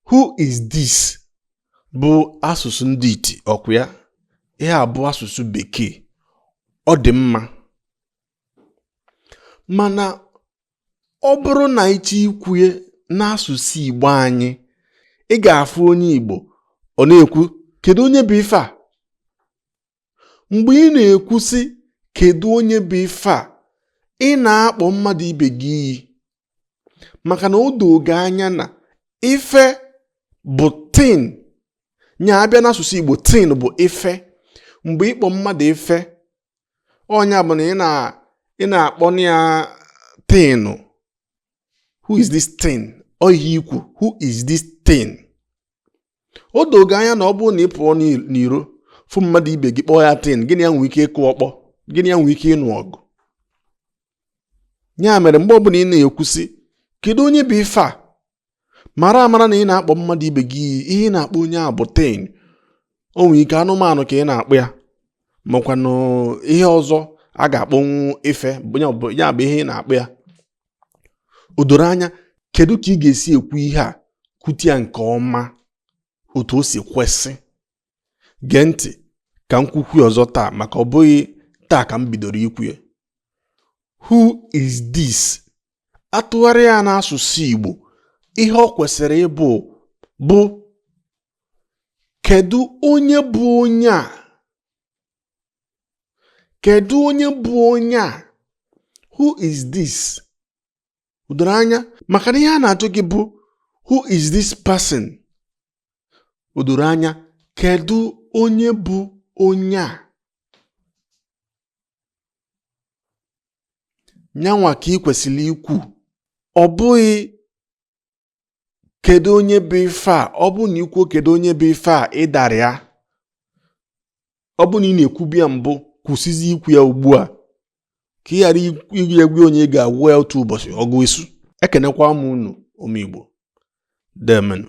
who is this bụ asụsụ ndị iti ọkwa ya ihe a bụ asụsụ bekee ọ dị mma mana ọ bụrụ na ị chọọ ikwu ya n'asụsụ igbo anyị ị ga-afụ onye igbo ọ na-ekwu kedu onye bụ ife a mgbe ị na-ekwu sị kedu onye bụ ife a ị na-akpọ mmadụ ibe gị iyi maka na o doo gị anya na ife bụ thing nya a bịa n'asụsụ Igbo thing bụ ife mgbe ị kpọ mmadụ ife ọ nya bụ na ị na-akpọ ya thing who is this thing ọ ihe i kwu who is this thing o doo gị anya na ọ bụrụ na ị pụọ n'iro fụ mmadụ ibe gị kpọọ ya thing gị na ya nwee ike ịkụ ọkpọ gị na ya nwee ike ịnụ ọgụ ya mere mgbe ọbụla ị na-ekwu sị kedu onye bụ ife a mara amara na ị na-akpọ mmadụ ibe gị iyi ihe ị na-akpọ onye a bụ thing o nwee ike anụmanụ ka ị na-akpọ ya makwanụ ihe ọzọ a ga-akpọnwu ife ya bụ ihe ị na-akpọ ya o doro anya kedu ka ị ga-esi ekwu ihe a kwute ya nke ọma otu o si kwesị gee ntị ka m kwukwuo ya ọzọ taa maka ọ bụghị taa ka m bidoro ikwu ya who is this a tụgharịa ya n'asụsụ Igbo ihe ọ kwesịrị ịbụ bụ kedu onye bụ onye a kedu onye bụ onye a who is this o doro anya maka na ihe a na-ajụ gị bụ who is this person o doro anya kedu onye bụ onye a nyanwa ka ị kwesịrị ikwu ọ bụghị kedu onye bụ ife a ọ bụrụ na i kwuo kedu onye bụ ife a ị dara ya ọ bụrụ na ị na-ekwubu ya mbụ kwụsịzi ikwu ya ugbu a ka ị ghara ije gwa onye ị ga-agwa ya otu ụbọchị ọgụ esu ekenekwa m unu ụmụ Igbo deemenụ